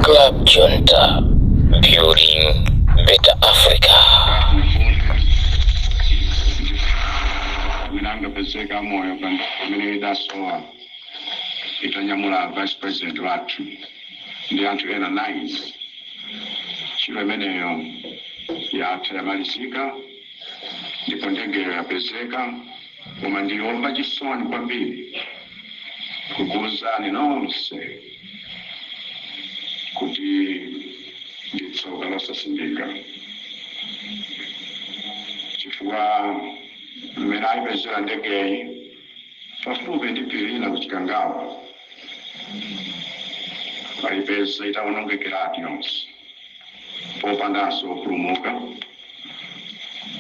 Club Junta, building better Africa. winanga pezeka moyo pano pamene idasowa itanyamula vice president wathu ndi anthu ena 9 ntchito imeneyo yatha yamalizika ndipo ndegeyo yapezeka Koma ndili omva chisoni kwambiri kukuuzani nonse kuti ndi tsoka losasimbika chifukwa mmene aipezera ndegeyi pafupi ndi phiri lina ku Chikangawa aipeza itawonongekeratu yonse popandanso opulumuka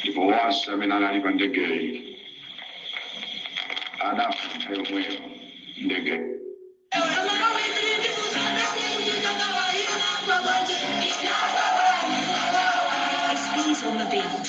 ndipo onse amene anali pa ndegeyi adafa nthawi yomweyo ndege He's on the beat.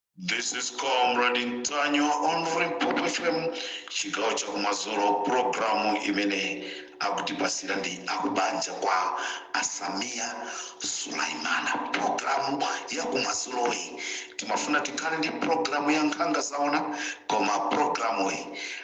This is Comrade Ntanyiwa on Limpopo FM chigawo cha kumadzulo programu imene akutipasira ndi akubanja kwa a Samia Sulaimana. Programu ya kumadzuloyi timafuna tikhale ndi programu ya nkhanga zaona koma programuyi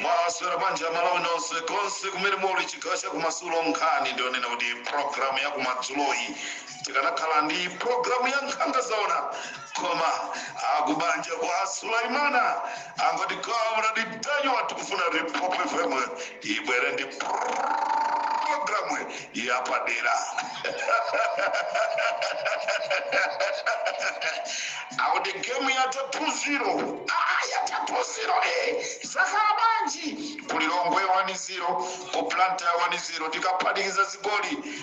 mwaswera bwanji amalawi nonse konse kumene muli chigawo cha kumadzulo nkhani ndionena kuti programu ya kumadzuloyi tikanakhala ndi programu ya nkhanga zaona koma akubanja kwa sulaimana angoti comrade ntanyiwa tikufuna limpopo fm ibwere ndi programu yapadera akuti gemu yatha 2-0 aa yatha 2-0 e zakhala bwanji kulilongwe 1-0 ku blantyre 1-0 tikaphatikiza zigoli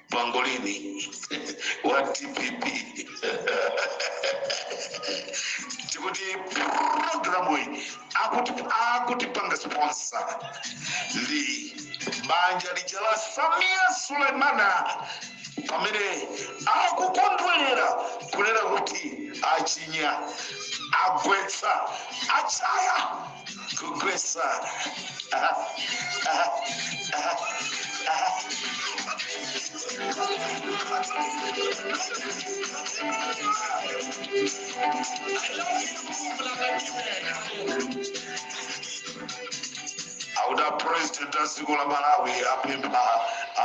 pangolini wa dpp tikuti programu iyi akutipanga sponsor ndi banja lija la samia sulemana pamene akukondwerera kunena kuti achinya agwetsa achaya kugwetsa Aha, aha, aha, aha. auda president a dziko la malawi apempha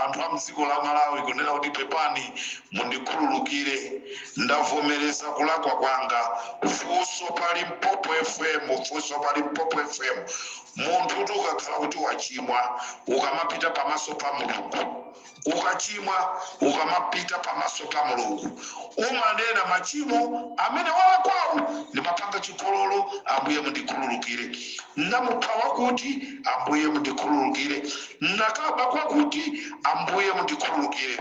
anthu a mdziko la malawi kunena kuti pepani Mundikhululukire ndavomereza kulakwa kwanga funso pa Limpopo FM funso pa Limpopo FM munthu kuti ukakhala kuti wachimwa ukamapita pamaso pa Mulungu ukachimwa ukamapita pamaso pa Mulungu umanena machimo amene walakwawo ndimapanga chigololo ambuye mundikhululukire ndamupha wakuti ambuye mundikhululukire ndakaba kwakuti ambuye mundikhululukire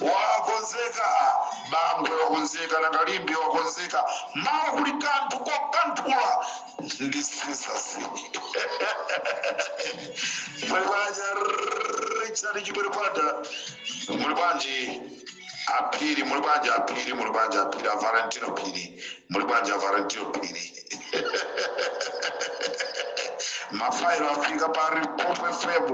wakonzeka bangwe wakonzeka nanga limbe wakonzeka mawa kuli kanthu kokanthula ndi sisasi muli bwanji richard chipiripata muli bwanji aphiri muli bwanji aphiri muli bwanji aphiri a valentino phiri muli bwanji a valentino phiri mafailo afika pa Limpopo FM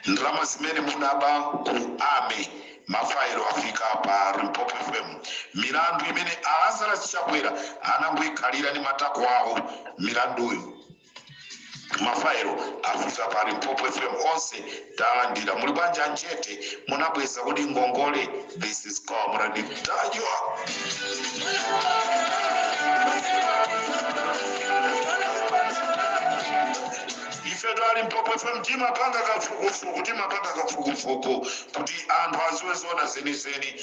ndalama zimene munaba ku army mafailo afika pa Limpopo FM milandu imene a Lazarus Chakwera anangoikhalira ndi matako awo milanduyo mafailo afika pa Limpopo FM onse talandira muli bwanji a Njete munabweza kodi ngongole This is Comrade Ntanyiwa. ifetu a Limpopo FM timapanga kafukufuku timapanga kafukufuku kuti anthu aziwe zoona zenizeni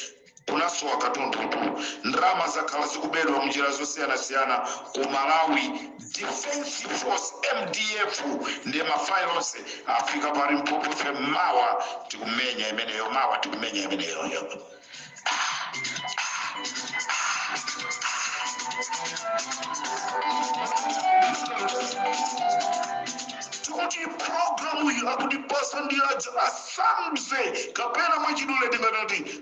kunasowa katundutu ndalama zakhala zikubedwa munjira zosiyanasiyana ku malawi Defence force, mdf, ndiye ma file onse afika pa Limpopo FM mawa tikumenya imeneyo mawa tikumenya imeneyoyo tikuti programu iyi akutipasa ndi aja asamze kapena mwachidule tingati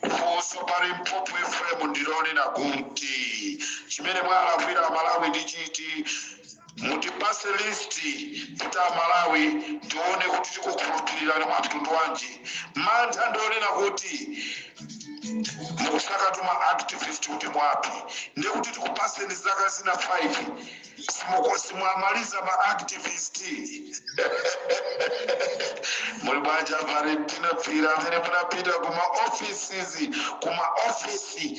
Funso pa Limpopo FM ndilonena kuti chimene mwalakwira Amalawi ndi chiti? Mutipase list kuti Amalawi tione kuti tikukhulupirirani mwa mtundu wanji. Mantha ndionena kuti mukusakatu ma activist kuti muwaphe ndekuti tikupaseni zaka zina 5 Mkosi mwamaliza ma activist muli bwanji a Valentino Phiri amene munapita kuma offices kuma office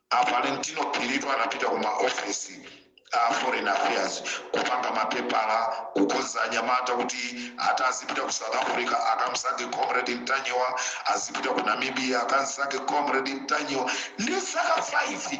a Valentino Phiritu anapita kuma office a foreign affairs kupanga mapepala kukonza anyamata kuti ati azipita ku south africa akamsake comrade Ntanyiwa azipita ku namibia akamsake comrade Ntanyiwa ndi zaka 5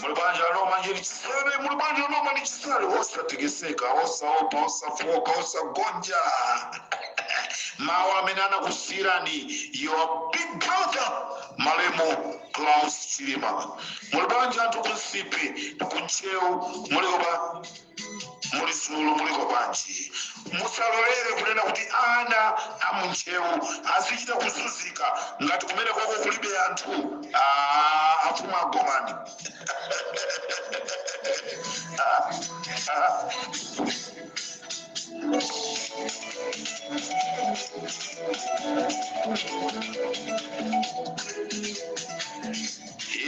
muli banja loma aNorman Chisale muli banja loma aNorman Chisale osatekeseka osaopa osafoka osagonja mawu amene anakusiyirani your big brother malemu klaus chilima muli banja anthu kuNsipe kuntcheu muli kuba muli uku muliko bwanji musalolere kunena kuti ana amuntcheu azichita kuzunzika ngati kumene koko kulibe anthu Ah, afumu agomani Ah, ah.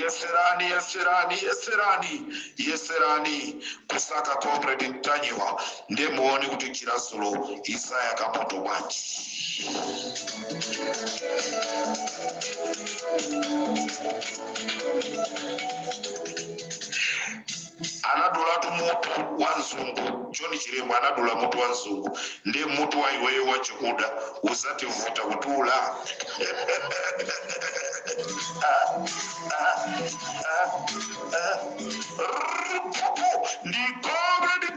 yeserani yeserani yeserani yeserani kusaka comrade mtanyiwa nde muone kuti chirasulo isaya kamoto bwanji anadulatu mutu wa mzungu john chilembwe anadula mutu wa mzungu ndiye mutu wa iwe wachikuda uzativuta kudula Rrrr, pupu, ndi comrade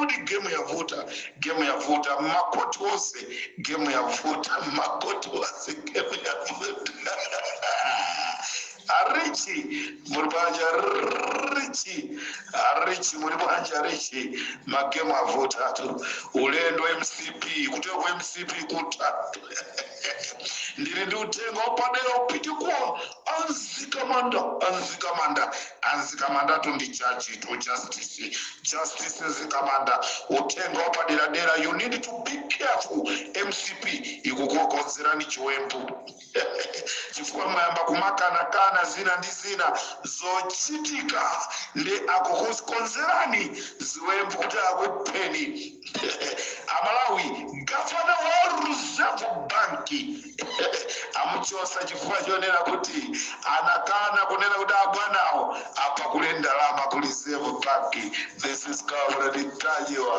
kuti gemu yavuta gemu yavuta makoti onse gemu yavuta makoti onse gemu yavuta arichi muri banja richi arichi muri banja richi magemu avutatu ulendo mcp kuteko mcp kutatu ndili ndi uthenga wapadera upite kwa anzikamanda anzikamanda anzikamandatu ndi jajitu justice justice zikamanda uthenga wapaderadera you need to be careful mcp ikukukonzerani chiwembu chifukwa mwayamba kumakanakana zina ndi zina zochitika nde akukukonzerani ziwembu kuti akupheni amalawi gavana wa reserve bank amuchosa chifukwa chonena kuti anakana kunena kuti abwanawo apakule ndalama ku reserve bank this is comrade ntanyiwa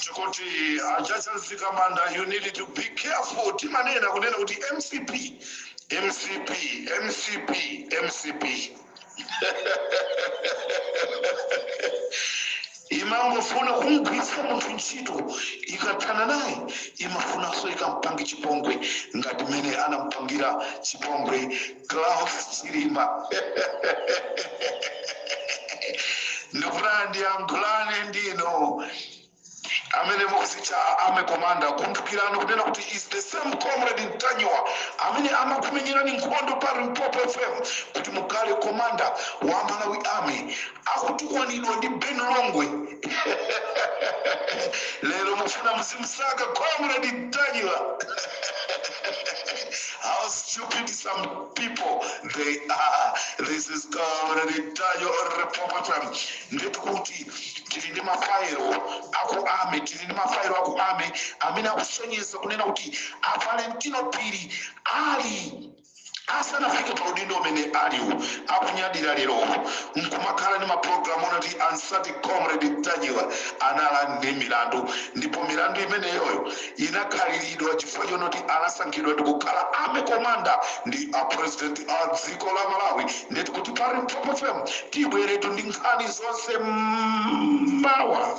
tikuti a jaji zikamanda you need to be careful timanena kunena kuti mcp mcp mcp mcp imangofuna kumgwiritsa munthu ntchito ikathana naye imafunanso ikampange chipongwe ngati mmene anampangira chipongwe Saulos Chilima. Ndikufuna ndiyankhulane ndinu amene mukuzitcha army commander kumbukirani kunena kuti is the same comrade Ntanyiwa amene amakumenyerani nkhondo pa Limpopo FM kuti mukhale commander wa Malawi Army akutukwanidwa ndi Ben Longwe lero mufuna muzimsaka comrade Ntanyiwa how stupid some people they are this is comrade Ntanyiwa on Limpopo FM nde tikuti tili ndi mafailo aku army tili ndi mafailo aku army amene akusonyeza kunena kuti a Valentino Phiri ali asanafike pa udindo umene aliwu akunyadira lerowu nkumakhala ndi mapulogalamu onati amsake comrade ntanyiwa anali ndi milandu ndipo milandu imeneyoyo inakhaliridwa chifukwa chonoti anasankhidwa ndikukhala army commander ndi a president a dziko la malawi nde tikuti pa limpopo fm tibweratu ndi nkhani zonse mmawa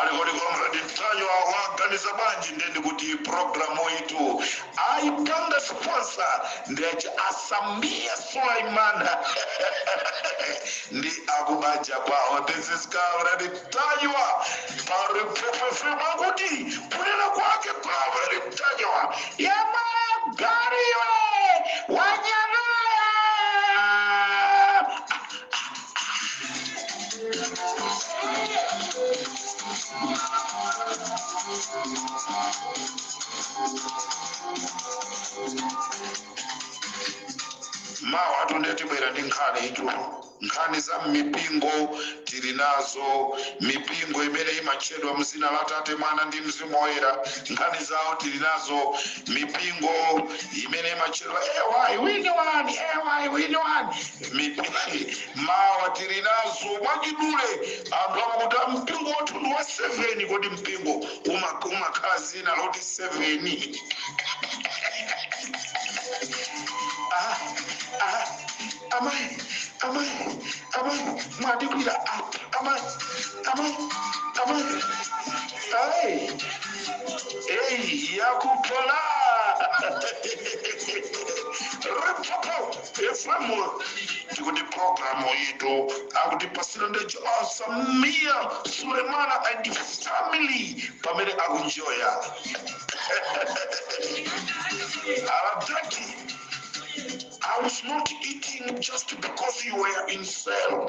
ali kodi comrade ntanyiwa waganiza bwanji nde ndikuti programu yathu ayipanga sponsor ndi aja a sameer suleman ndi akubanja kwawo this is comrade ntanyiwa pa limpopo fm kuti kunena kwake comrade ntanyiwa yemwe gariwe wanyamaya mawa ndithu tibwera ndi nkhani izo nkhani za mipingo tili nazo mipingo imene imatchedwa mzina la tate mwana ndi mzimu woyera nkhani zawo tili nazo mipingo imene imatchedwa ewayi wini wani ewayi wini wani Mipingo mawa tili nazo mwachidule anthu akuti mpingo wathu ndi wa 7 kodi mpingo uma umakhala dzina loti 7 ah, ah, amai amai amai mwandigwira ah, amai amai amai ai ei yakupala Limpopo Furthermore, tikuti program iyitu akutipasira ndi Juma Samia Sulemana and family pamene akunjoya aladaki I was not eating just because you were in cell.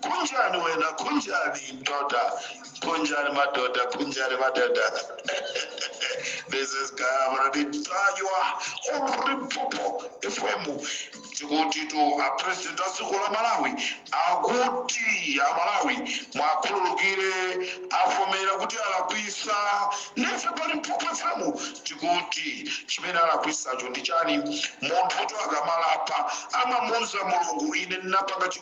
kunjani wena kunjani mdoda kunjani madoda kunjani madoda this is comrade ntanyiwa on limpopo fm tikutitu apresident a dziko la malawi akuti amalawi muwakhululukire avomera kuti alakwisa nafe pa limpopo fm tikuti chimene alakwisacho ndi chani munthu akamalapa amamuuza mulungu ine ndinapanga chi-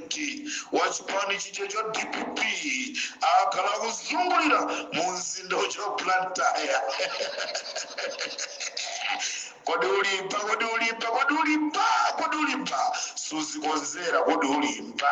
pulezidenti wa chipani chijacho cha dpp akhala akuzungulira mu mzinda ujawo wa blantyre kodi ulimba kodi ulimba kodi ulimba kodi ulimba suzikonzera kodi ulimba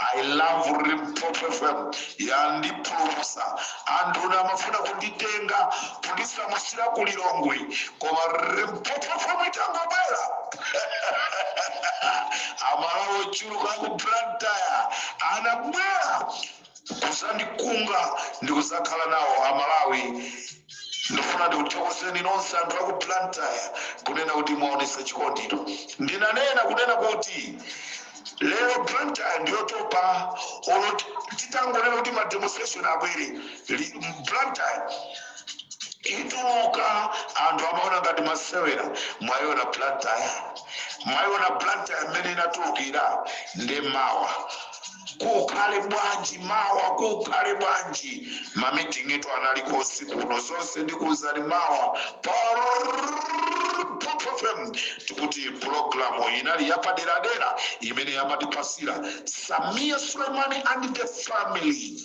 I love Limpopo FM yandipulumutsa anduna amafuna kunditenga kundisamusira ku Lilongwe koma Limpopo FM itangobwera amalawi ochuluka ku Blantyre anabwera kuzandikunga ndi kuzakhala nawo amalawi ndifuna ndikuthokozeni nonse anthu aku Blantyre kunena kuti mwaonesa chikondito ndinanena kunena kuti Lero Blantyre ndiyotopa olo titangonena kuti ma demonstration abwere Blantyre ituluka anthu amaona ngati masewera mwaiona Blantyre mwaiona Blantyre mmene inatulukira nde mawa kukhale bwanji mawa kukhale bwanji ma meeting etu analiko usiku kuno zonse ndikuuzani mawa pa fm tikuti pulogalamu inali yapaderadera imene yamatipasira samia suleimani and the family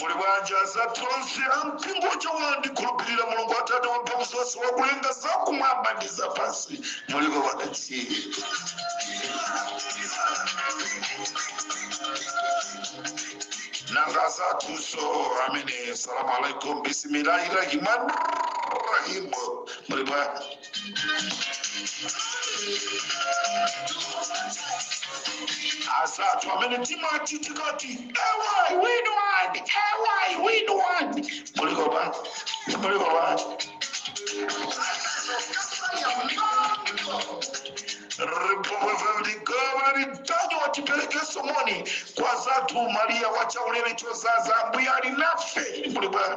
muli bwanji azathu onse ampingo uja wandikhulupirira mulungu atate wamphamvu zonse wakulenga zakumwamba ndi zapansi muliko pakatsiri nanga zathuso amene salamu alaikum bisimilahi rahimani rahimu muli bwanji azathu amene timati tikati ewayi win one ewayi win one muliko pa muliko pa limpopo fm veligavanitanya tiperekenso moni kwa azathu mariya wachaulere chodzaza ambuye ali nanu muli bwana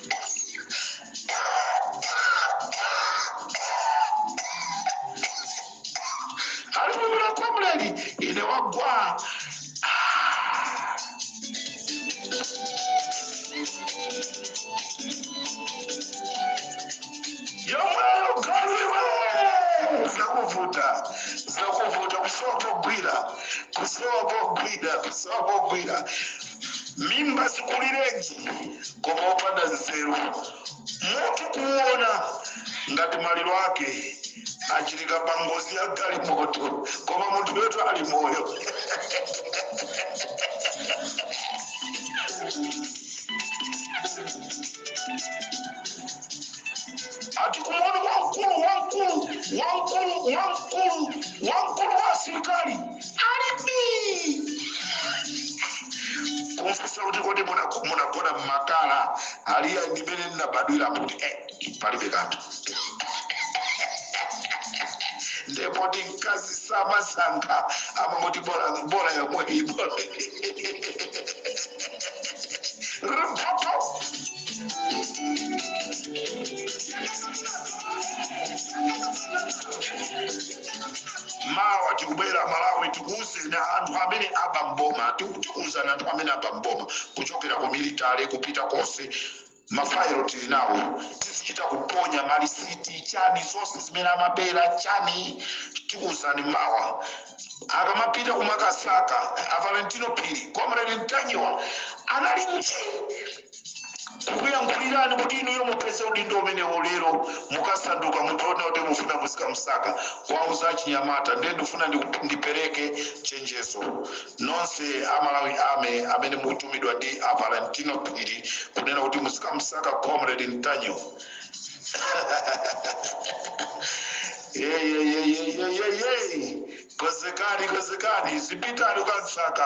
alimwimira kwa mlengi ine wagwa Ah. yomweyo galuiwe zakuvuta zakuvuta kusowa pogwira kusowa pogwira kusowa pogwira mimba zikulirenji koma opanda nzeru muti kuona ngati maliro ake achitika pa ngozi ya galimoto koma munthu wetu ali moyo ati kumuona wamkulu wamkulu wamkulu wamkulu wamkulu wa asilikali kumfunsa kuti kodi munago- munagona mmakhala aliya ndimene ndinabadwira muti eh, palibe kanthu nde poti mkazi samasankha amamati bola bola yomweyi bola ripoto mawa tikubwera malawi tikuuzeni anthu amene aba mboma tiku- tikuuzani anthu amene aba mboma kuchokera ku military kupita konse mafairo tili nawo tizichita kuponya malisiti chani zonse zimene amabera chani tikuuzani mawa akamapita kumakasaka avalentino phiri comrade ntanyiwa anali nji kukuyankhulirani kuti inuyo mupeze udindo umenewo lero mukasanduka munthu wonena kuti mufuna muzikamsaka kuwauza achinyamata ndiye ndifuna ndiku- ndipereke chenjezo nonse a malawi ame amene mukutumidwa ndi a valentino phiri kunena kuti muzikamsaka comrade ntanyiwa yeyeyeyeyeyeye konzekani konzekani dzipitani mukamsaka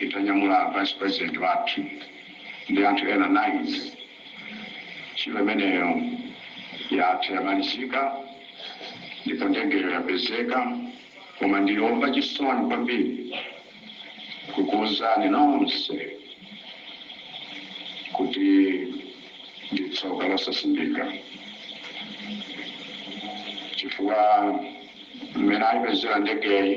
itanyamula vice president wathu ndi anthu ena 9. Ntchito imeneyo yatha, yamalizika ndipo ndegeyo yapezeka koma ndili omva chisoni kwambiri kukuuzani nonse kuti ndi tsoka losasimbika chifukwa mmene ayipezera ndegeyi,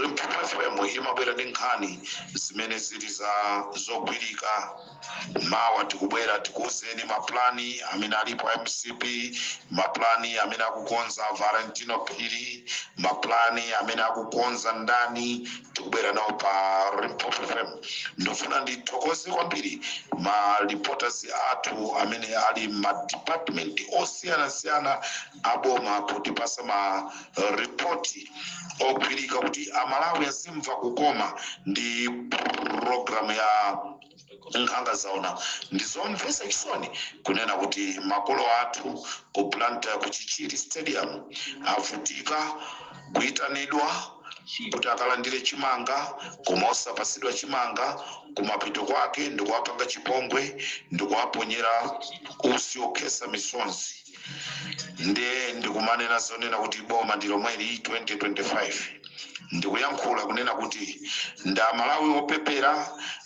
Limpopo FM imabwera ndi nkhani zimene zili zogwirika. Mawa tikubwera tikuuzeni mapulani amene alipo a mcp, mapulani amene akukonza Valentino Phiri, mapulani amene akukonza ndani, tikubwera nawo pa Limpopo FM. Ndifuna ndithokoze kwambiri ma reporters athu amene ali ma department osiyanasiyana aboma kutipasa ma report ogwirika kuti amalawi azimva kukoma ndi program ya nkhanga zaona ndizomvesa chisoni kunena kuti makolo athu ku blantyre ku chichiri stadium avutika kuitanidwa kuti akalandire chimanga koma osapasidwa chimanga kumapeto kwake ndikuwapanga chipongwe ndikuwaponyera usi okhesa misonzi nde ndikumanena zoonena kuti boma ndi lomweli 2025 ndikuyankhula kunena kuti ndi amalawi opepera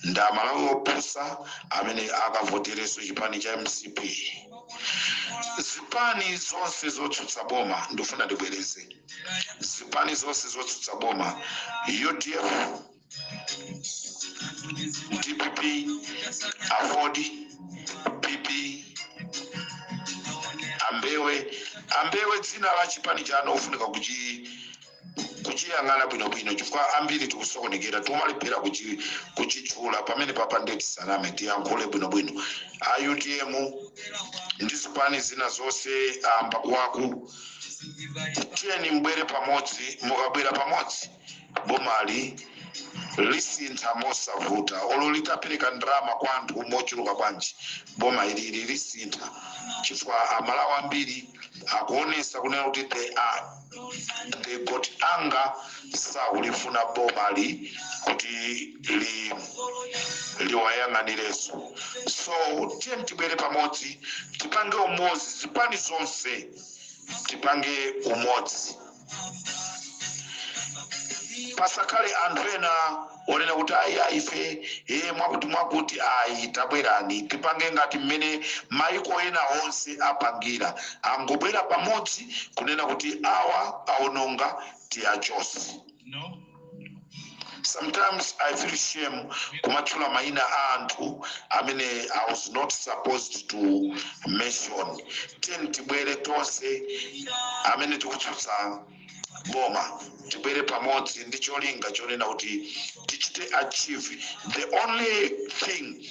ndi amalawi opusa amene akavotereso chipani cha mcp zipani zonse zotsutsa boma ndikufuna ndibwereze zipani zonse zotsutsa boma udf dpp aford pp ambewe ambewe dzina la chipani chanu ofunika kuchi kuchiyang'ana bwinobwino chifukwa ambiri tikusokonekera tikumalephera kuchi- kuchitchula pamenepapa nde tisaname tiyankhule bwinobwino a utm ndi zipani zina zonse a mbakuwaku tiyeni mubwere pamodzi mukabwera pamodzi bomali lisintha mosavuta olo litapereka ndalama kwa anthu mochuluka bwanji boma ilili lisintha chifukwa amalawi ambiri akuonesa kunena kuti they are they have got anger sakulifuna bomali kuti li liwayang'anireso so tiyeni tibwere pamodzi tipange umodzi zipani zonse tipange umodzi pasakhale anthu ena onena kuti ayi ayi ife e mwakuti mwakuti ayi tabwerani tipange ngati mmene maiko ena onse apangira angobwera pamodzi kunena kuti awa aononga tiachose no. sometimes i feel shame kumatchula maina a anthu amene i was not supposed to mention tiyeni tibwere tonse amene tikutsutsa boma tibwere pamodzi ndi cholinga chonena kuti tichite achieve the only thing